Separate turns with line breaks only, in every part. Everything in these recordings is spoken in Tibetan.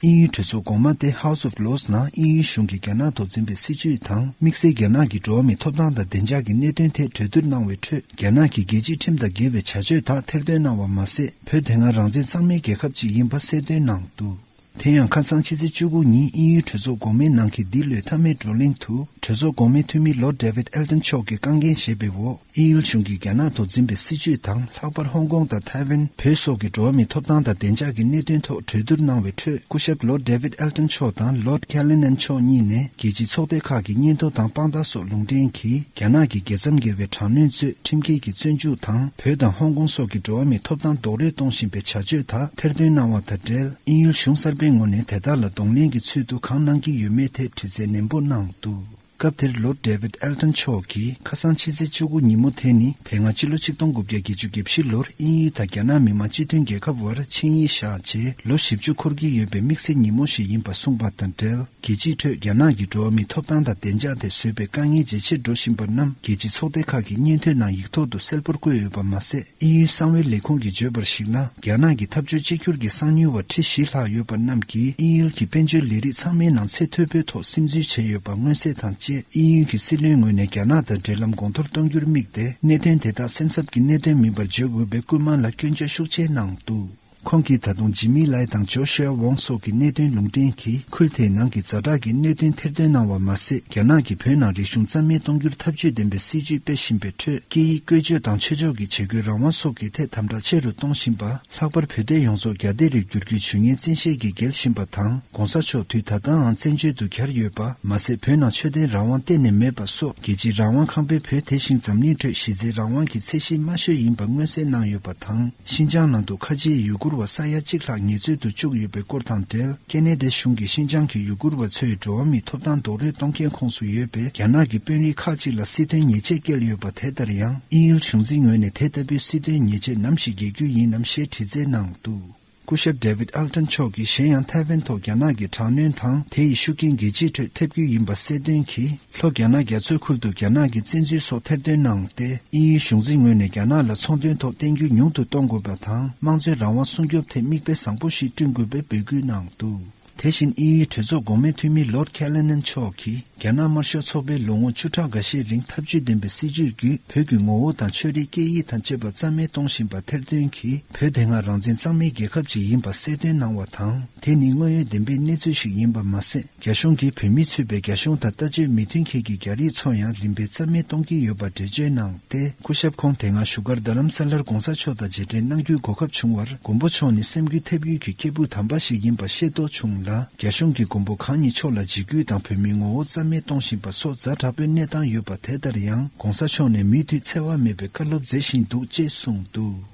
དབྱིན་ཡུལ་གྲོས་ཚོགས་གོང་མ་སྟེ House of Lords ནང་དབྱིན་ཡུལ་གཞུང་གིས་རྒྱ་ནག་ཐོག་འཛིན་པའི་སྲིད་བྱུས་དང་དམིགས་བསལ་རྒྱ་ནག་གི་འགྲོ་བ་མིའི་ཐོབ་ཐང་དང་བདེ་འཇགས་ཀྱི་གནད་དོན་ཐད་གྲོས་བསྡུར་གནང་བའི་ཁྲོད་རྒྱ་ནག་གིས་རྒྱལ་སྤྱིའི་ཁྲིམས་དང་འགལ་བའི་བྱ་སྤྱོད་དག་ཐེར་འདོན་གནང་བ་མ་ཟད་བོད་དེ་སྔར་རང་བཙན་གཙང་མའི་རྒྱལ་ཁབ་ཅིག་ཡིན་པ་གསལ་འདོན་གནང་འདུག་དེ་ཡང་ཁ་སང་ཕྱི་ཚེས་བཅུ་དགུ་ཉིན་དབྱིན་ཡུལ་གྲོས་ཚོགས་གོང་མའི་ནང་གི་འདི་ལོའི་མཐའ་མའི་བགྲོ་གླེང་དུ་གྲོས་ཚོགས་གོང་མའི་འཐུས་མི Lord David Elton མཆོག་གིས་རྐང་འགན་བཞེས་པའི་འོག་དབྱིན་ཡུལ་གཞུང་གིས་རྒྱ་ནག་ཐོག་འཛིན་པའི་སྲིད་བྱུས་དང་ལྷག་པར་ཧོང་ཀོང་དང་ཐའེ་ཝན་བོད་སོགས་ཀྱི་འགྲོ་བ་མིའི་ཐོབ་ཐང་དང་བདེ་འཇགས་ཀྱི་གནད་དོན་ཐོག་གྲོས་བསྡུར་གནང་བའི་ཁྲོད་སྐུ་ཞབས Lord David Elton མཆོག་དང Lord Callinan མཆོག་གཉིས་ནས་རྒྱལ་སྤྱིའི་ཚོགས་སྡེ་ཁག་གི་སྙན་ཐོ་དང་དཔང་རྟགས་སོགས་ལུང་འདྲེན་གྱིས་རྒྱ་ནག་གི་རྒྱལ་མཚམས་བརྒལ་བའི་དྲག་གནོན་གཙོས་ཁྲིམས་འགལ་གྱིས་བཙོན་འཇུག་དང་བོད་དང་ཧོང་ཀོང་སོགས་ཀྱི་འགྲོ་བ་མིའི་ཐོབ་ཐང་རྡོག་རོལ་གཏོང་བཞིན་པའི་བྱ་སྤྱོད་དག་ཐེར་འདོན་གནང་བ་དང་འབྲེལ་དབྱིན་ཡུལ་གཞུང་གསར་པའི་ངོས་ནས་དེ་དག་ལ་གདོང་ལེན་གྱི་ཚུལ་དུ་གང་གནང་གི་ཡོད་མེད་ཐད་དྲི་རྩད་ནན་པོ་གནང་འདུག། སྐབས་དེར Lord David Elton མཆོག་གིས་ཁ་སང་ཕྱི་ཚེས་བཅུ་དགུ་ཉིན་མོ་དེ་ནི་དེ་སྔ་ཕྱི་ལོ་ཆིག་སྟོང་དགུ་བརྒྱ་བརྒྱད་ཅུ་གྱི་ཕྱི་ལོར་དབྱིན་ཡུལ་དང་རྒྱ་ནག་མི་དམངས་སྤྱི་མཐུན་རྒྱལ་ཁབ་དབར་ཆིངས་ཡིག་བཞག་རྗེས་ལོ་བཞི་བཅུ་འཁོར་གྱི་ཡོད་པའི་དམིགས་བསལ་ཉིན་མོ་ཞིག་ཡིན་པ་གསུངས་པ་དང་འབྲེལ་རྒྱལ་སྤྱིའི་ཁྲོད་རྒྱ་ནག་གི་འགྲོ་བ་མིའི་ཐོབ་ཐང་དང་བདེ་འཇགས་ཐད་བཟོས་པའི་དཀའ་ངལ་ཇེ་ཆེར་འགྲོ་བཞིན་པ་རྣམས་རྒྱལ་སྤྱིའི་ཚོགས་སྡེ་ཁག་གི་སྙན་ཐོའི་ནང་ཡིག་ཐོག་ཏུ་གསལ་པོར་བཀོད་ཡོད་པ་མ་ཟད། ཨིན་ཡུལ་གསང་བའི་ལས་ཁུངས་ཀྱིས་བརྗོད་པར་གཞིགས་ན་རྒྱ་ནག་གི་འཐབ་རྩོད་གཅིག་གྱུར་གྱི་གསང་མྱུལ་བ་ཁྲི་བཞི་ལྷག་ཡོད་པ་རྣམས་ཀྱིས་ཨིན་ཡུལ་གྱི་དཔལ་འབྱོར་ལས་རིགས་ཚང་མའི་ནང་ཚད་མཐོ་པོའི་ཐོག་སིམ་འཛུལ་བྱས་ཡོད་པ་མངོན་གསལ་དང་བཅས་ཨིན་ཡུལ་གྱི་སྲིད་བློན་ངོས་ནས་རྒྱ་ནག་དང་འབྲེལ་ལམ་གོང་མཐོར་གཏོང་རྒྱུར་དམིགས་ཏེ་གནད་དོན་དེ་དག་སེམས་འཚབ་ཀྱི་གནད་དོན་མིན་པར་བརྗོད་དགོས་པའི་སྐུལ་མ་ལ་སྐྱོན་བརྗོད་ཤུགས་ཆེ་གནང་འདུག། ཁོང་གིས་ད་དུང་ཇི་མི་ལའེ་དང་ཇོ་ཤུ་ཨེ་ཝོང་སོགས་ཀྱི་གནད་དོན་ལུང་འདྲེན་གྱིས་ཁུལ་དེའི་ནང་གི་རྫ་དྲག་གི་གནོད་སྐྱོན་ཐེར་འདོན་གནང་བ་མ་ཟད་རྒྱ་ནག་གིས་བོད་ནང་རིག་གཞུང་རྩ་མེད་གཏོང་རྒྱུར་འཐབ་ཇུས་ལྡན་པའི་སྲིད་ཇུས་སྤེལ་བཞིན་པའི་ཁྲོད་སྐད་ཡིག་བཀོལ་སྤྱོད་དང་ཆོས་ཕྱོགས་ཀྱི་བྱེད་སྒོའི་རང་དབང་སོགས་ཀྱི་ཐད་དམ་དྲག་ཆེ་རུ་གཏོང་བཞིན་པ། ལྷག་པར་བོད་སྡོད་ཡོངས་རྫོགས་རྒྱ་སྡེ་རུ་འགྱུར་རྒྱུའི་ཇུས་ངན་བཙན་ཤེད་ཀྱིས་འགེལ་བཞིན་པ་དང ྋགོང་ས་མཆོག་དུས་ད་ལྟའང་བཙན་བྱོལ་དུ་གྱར་ཡོད་པ་མ་ཟད་བོད་ནང་ཆོས་ལྡན་རང་དབང་གཏན་ནས་མེད་པ་སོགས་རྒྱལ་སྤྱིའི་རང་དབང་ཁང་པའི་བོད་དེ་བཞིན་འཛམ་གླིང་ཁྲོད་གཞི་རྩའི་རང་དབང་གི་ཚད་གཞི་དམའ་ཤོས་ཡིན་པ་མངོན་གསལ་གནང་ཡོད་པ། དང། ཤིན་ཅང་ནང་དུ་ཁ་ཆེའི་ཡུ་གུར་བ་ས་ཡ་གཅིག་ལྷག་ངལ་རྩོལ་དུ་བཅུག་ཡོད་པའི་སྐོར་དང་འབྲེལ་ཀེ་ནེ་ལྡེ་གཞུང་གིས་ཤིན་ཅང་གི་ཡུ་གུར་བ་ཚོའི་འགྲོ་བ་མིའི་ཐོབ་ཐང་རྡོག་རོལ་གཏོང་མཁན་ཁོངས་སུ་ཡོད་པའི་རྒྱ་ནག་གི་དཔོན་རིགས་ཁག་ཅིག་ལ་སྲིད་དོན་ཉེས་ཆད་བཀལ་ཡོད་པ་དེ་ལྟར་ཡང་དབྱིན་ཡུལ་གཞུང་འཛིན་ངོས་ནས་དེ་ལྟ་བུའི་སྲིད་དོན་ཉེས་ཆད་ནམ་ཞིག་འགེལ་རྒྱུ་ཡིན་ནམ་ཞེས་དྲི་རྩད་གནང་འདུག། སྐུ་ཞབས David Elton མཆོག་གིས་གཞན་ཡང་ཐའེ་ཝན་ཐོག་རྒྱ་ནག་གི་དྲག་གནོན་དང་དེ་ཡི་ཤུགས་རྐྱེན་རྒྱལ་སྤྱིའི་ཁྲོད་ཐེབས་རྒྱུ་ཡིན་པ་གསལ་སྟོན་གྱིས་ལྷོ་རྒྱ་ནག་རྒྱ་མཚོའི་ཁུལ་དུ་རྒྱ་ནག་གི་བཙན་འཛུལ་སོགས་ཐེར་འདོན་གནང་སྟེ་དབྱིན་ཡུལ་གཞུང་འཛིན་ངོས་ནས་རྒྱ་ནག་ལ་ཚོང་དོན་ཐོག་བརྟེན་རྒྱུ་ཉུང་དུ་གཏོང་དགོས་པ་དང་དམངས་གཙོའི་རང་དབང་སྲུང་སྐྱོབ་ཐད་མིག་དཔེ་བཟང་པོ་ཞིག་བསྐྲུན་དགོས་པའི་འབོད་སྐུལ་གནང་འདུག། དེ་བཞིན་དབྱིན་ཡུལ་གྲོས་ཚོགས་འགོ་མའི་འཐུས་མི Lord Callanan མཆོག་གིས་རྒྱ་ནག་དམར་ཤོག་ཚོགས་པའི་ལོ་ངོ་བཅུ་ཕྲག་འགའ་ཤས་རིང་འཐབ་ཇུས་ལྡན་པའི་སྲིད་ཇུས་བརྒྱུད་བོད་ཀྱི་ངོ་བོ་དང་ཆོས་རིག་སྐད་ཡིག་དང་བཅས་པ་རྩ་མེད་གཏོང་བཞིན་པ་ཐེར་འདོན་གྱིས་བོད་དེ་སྔ་རང་བཙན་གཙང་མའི་རྒྱལ་ཁབ་ཅིག་ཡིན་པ་གསལ་སྟོན་གནང་བ་དང་དེ་ནི་དངོས་ཡོད་བདེན་པའི་གནས་ཚུལ་ཞིག་ཡིན་པ་མ་ཟད་རྒྱ་གཞུང་གིས་བོད་མི་ཚུད་པའི་རྒྱ་གཞུང་དང་ལྟ་སྤྱོད་མི་མཐུན་མཁན་གྱི་རྒྱ་རིགས་ཚོ་ཡང་རིམ་པས་རྩ་མེད་གཏོང་གི་ཡོད་པ་འགྲེལ་བརྗོད་གནང། ཏེ་སྐུ་ཞབས་ཁོང་དེ་སྔ་བཞུགས་སྒར་རྡ་རམ་ས་ལར་དགོངས་ས་མཆོག་དང་རྗེས་དྲན་གནང་རྒྱུའི་གོ་སྐབས་བྱུང་བར་མགོན་པོ་མཆོག་ནི་སེམས་འགུལ་ཐེབས་ཡུལ་གྱི་སྐྱེས་བུ་དམ་པ་ཞིག་ཡིན་པ་ཤེས་རྟོགས་བྱུང་ལ་རྒྱ་གཞུང་གིས་མགོན་པོ་གང་ཉིད་མཆོག་ལ་འཇིགས་སྐུལ་དང་བོད་མིའི་ངོ་བོ་རྩ་མེད་གཏོང་བཞིན་པ་སོགས་རྫ་དྲག་པོའི་གནས་སྟངས་ཡོད་པ་དེ་ལྟར་ཡང་གོང་ས་མཆོག་ནས་མུས་མཐུད་འཚེ་བ་མེད་པའི་བཀའ་སློབ་མཛད་བཞིན་འདུག་ཅེས་གསུངས་འདུག།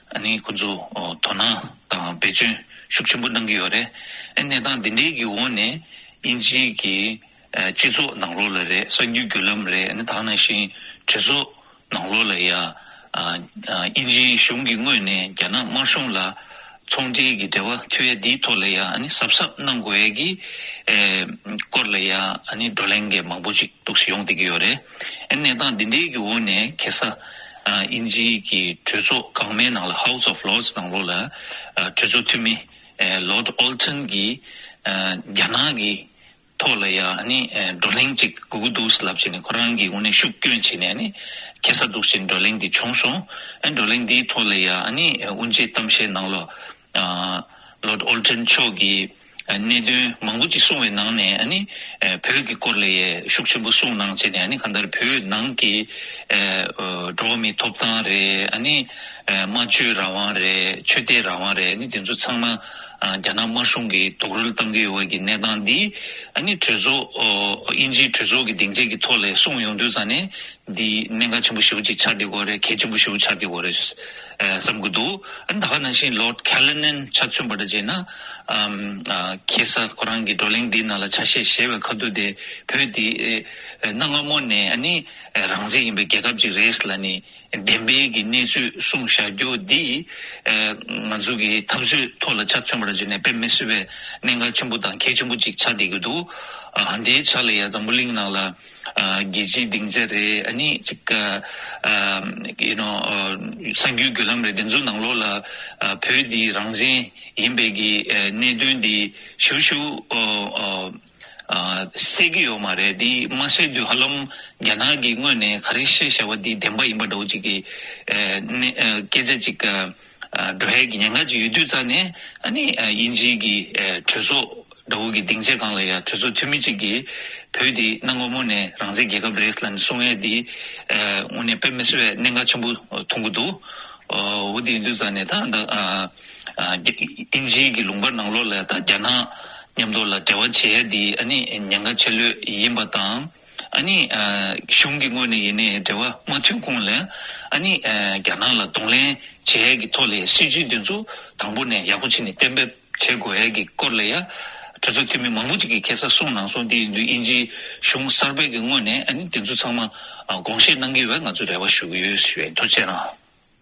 ནི་ཁོ་ཚོས་དོ་སྣང་དང་བེད་སྤྱོད་ཤུགས་ཆེན་པོ་གནང་གི་ཡོད་རེད། གནས་སྟངས་འདི་འདྲའི་གི་འོག་ནས་དབྱིན་ཇི་གི་སྤྱི་ཚོགས་ནང་ལོགས་ལ་རེད་གསར་འགྱུར་བརྒྱུད་ལམ་རེད་ནི་དག་ན་བཞིན་གྲོས་ཚོགས་ནང་ལོགས་ལ་ཡང་དབྱིན་ཇི་གཞུང་གི་ངོས་ནས་རྒྱ་ནག་དམར་གཞུང་ལ་ཚོང་འབྲེལ་གི་འབྲེལ་བ་མཐུད་ཡ་འདིའི་ཐོག་ལ་ཡང་ནི་གཟབ་གཟབ་གནང་དགོས་ཡ་གི་སྐོར་ལ་ཡང་ནི་བགྲོ་གླེང་གི་མང་པོ་ཅིག་གཏུགས་སུ་ཡོང་བསྡད་ཀྱི་ཡོད་རེད། གནས་སྟངས་འདི་འདྲའི་གི་འོག་ནས་གེ་སར་དབྱིན་ཇིའི་གི་གྲོས་ཚོགས་གང་མའི་ནང་ལ House of Lords ནང་ལོགས་ལ་གྲོས་ཚོགས་འཐུས་མི Lord Alton གིས་རྒྱ་ནག་གི་ཐོག་ལ་ཡང་ནི་བགྲོ་གླེང་ཅིག་དགོས་ཀྱི་འདུག་ལབ་ཅིག་ནས་ཁོ་རང་གི་དབུ་ནས་ཤུགས་བསྐྱོན་བྱས་ནས་ནི་གེ་སར་འདུག་ཅིག་བགྲོ་གླེང་དེ་བྱུང་སོང། བགྲོ་གླེང་དེའི་ཐོག་ལ་ཡང་ནི་དབུ་འབྱེད་གཏམ་བཤད་ནང་ལོགས་ལོརྡ་ཨོལ་ཏྲན་མཆོག་གིས་གནད་དོན་མང་པོ་ཅིག་གསུངས་བའི་ནང་ནས་བོད་ཀྱི་སྐོར་ལ་ཡས་ཤུགས་ཆེན་པོ་གསུངས་གནང་བྱས་ནས་གང་ལྟར་བོད་ནང་གི་འགྲོ་བ་མིའི་ཐོབ་ཐང་རེད། སྨྲ་བརྗོད་རང་དབང་རེད་ཆོས་དད་རང་དབང་རེད་དེ་ཚོ་ཚང་མ་རྒྱ་ནག་དམར་གཞུང་གིས་རྡོག་རོལ་བཏང་གི་ཡོད་བ་ཀྱི་གནས་སྟངས་འདི་གྲོས་ཚོགས་དབྱིན་ཇིའི་གྲོས་ཚོགས་ཀྱི་སྡིངས་ཆའི་གི་ཐོག་ལས་གསུངས་ཡོང་དུས་ཙང་ནས་འདི་གནད་འགག་ཆེན་པོ་བཞི་བོ་ཅིག་ཆགས་བསྡད་དགོས་རེད་གལ་ཆེན་པོ་བཞི་བོ་ཆགས་བསྡད་དགོས་རེད། བསམ་གྱི་འདུག་ད་ག་ནང་བཞིན Lord Callinan ཆ་མཚོན་པ་འདྲ་བྱས་ན། ཁྱེད་ས་ཁོ་རང་གི་བགྲོ་གླེང་འདིའི་ནང་ལ་ཆ་ཤས་གཞལ་བའི་ཁ་བསྡུར་དེ་བོད་འདི་གནའ་སྔ་མོ་ནས་ནི་རང་བཙན་ཡིན་པའི་རྒྱལ་ཁབ་ཅིག་རེད་ལ་ནི་བདེན་དཔེ་གྱི་གནས་ཚུལ་གསུང་བཞག་རྒྱུ་འདི་ང་ཚོ་གི་འཐབ་བརྩོད་ཐོག་ལ་ཆ་མཚོན་པ་འདྲ་བྱས་ནས་དཔེ་མི་སྲིད་པའི་གནད་འགག་ཆེན་པོ་དང་གལ་ཆེན་པོ་ཅིག་ཆགས་བསྡད་ཀྱི་འདུག་འདིའི་ཆ་ལ་ཡང་འཛམ་བུ་གླིང་ནང་ལ། རྒྱལ་སྤྱིའི་སྡིངས་ཆ་རེད་ཨ་ནི། གཅིག་ཡུ་ནོ། གསར་འགྱུར་བརྒྱུད་ལམ་རེད་དེ་ཚོའི་ནང་ལོགས་ལ་བོད་འདི་རང་བཙན་ཡིན་པའི་གི་གནད་དོན་འདི་ཞུ་ཞུ། བསད་གི་ཡོད་མ་རེད་འདི་མ་བསད་དུས་ཧ་ལམ་རྒྱ་ནག་གི་དངོས་ནས་ག་རེ་བཤད་བྱ་བ་འདི་བདེན་པ་ཡིན་པ་འདྲ་བོ་ཅིག་གི། སྐད་ཆ་ཅིག། སྒྲོ་ཧད་ཀྱི་ཉེན་ཁ་ཅིག་ཡོད་དུས་རྩ་ནས་དབྱིན་ཇིའི་གི་གྲོས་ཚོགས་དགྲ་བོ་གི་སྡིངས་ཆའི་སྒང་ལ་ཡང་གྲོས་ཚོགས་འཐུས་མི་གཅིག་གིས་བོད་དེ་གནའ་སྔ་མོ་ནས་རང་བཙན་རྒྱལ་ཁབ་རེད་ལ་ནི་སྲུང་ཡས་དེ་དངོས་གནས་དཔེ་མི་སྲིད་པའི་གནད་འགག་ཆེན་པོ་མཐོང་གི་འདུག་འོ་དེ་ཡིན་དུས་རྩ་ནས་ད་ད་དབྱིན་ཇིའི་གི་ལུང་པར་ནང་ལོགས་ལ་ད་རྒྱ་ནག་མཉམ་དུ་ལ་འབྲེལ་བ་བྱེད་ཡས་དེ་ཉེན་ཁ་ཆེ་ལོས་ཡིན་པ་དང། ཨ་ནི། གཞུང་གི་ངོས་ནས་ཡིན་ནའི་འབྲེལ་བ་མ་མཐུན་གོང་ལ། ཨ་ནི། རྒྱ་ནག་ལ་གདོང་ལེན་བྱེད་ཡས་ཀྱི་ཐོག་ལས་སྲིད་ཇུས་འདི་ཚོ་དང་པོ་ནས་ཡག་པོ་བྱེད་ནས་གཏན་འབེབས་བྱེད་དགོས་ཡས་ཀྱི་སྐོར་ལ་ཡ། གྲོས་ཚོགས་འཐུས་མི་མང་པོ་ཅིག་གིས་ཁེ་ས་གསུངས་གནང་སོང་དེ་ཡིན་དུས་དབྱིན་ཇིའི་གཞུང་གསར་པའི་ཀྱི་ངོས་ནས་ཨ་ནི་དེ་ཚོ་ཚང་མ་དགོངས་བཞེས་གནང་གི་ཡོད་པ་ང་ཚོས་རེ་བ་ཞུ་གི་ཡོད་ཞུས་པའི་ཐུགས་རྗེ་གནང།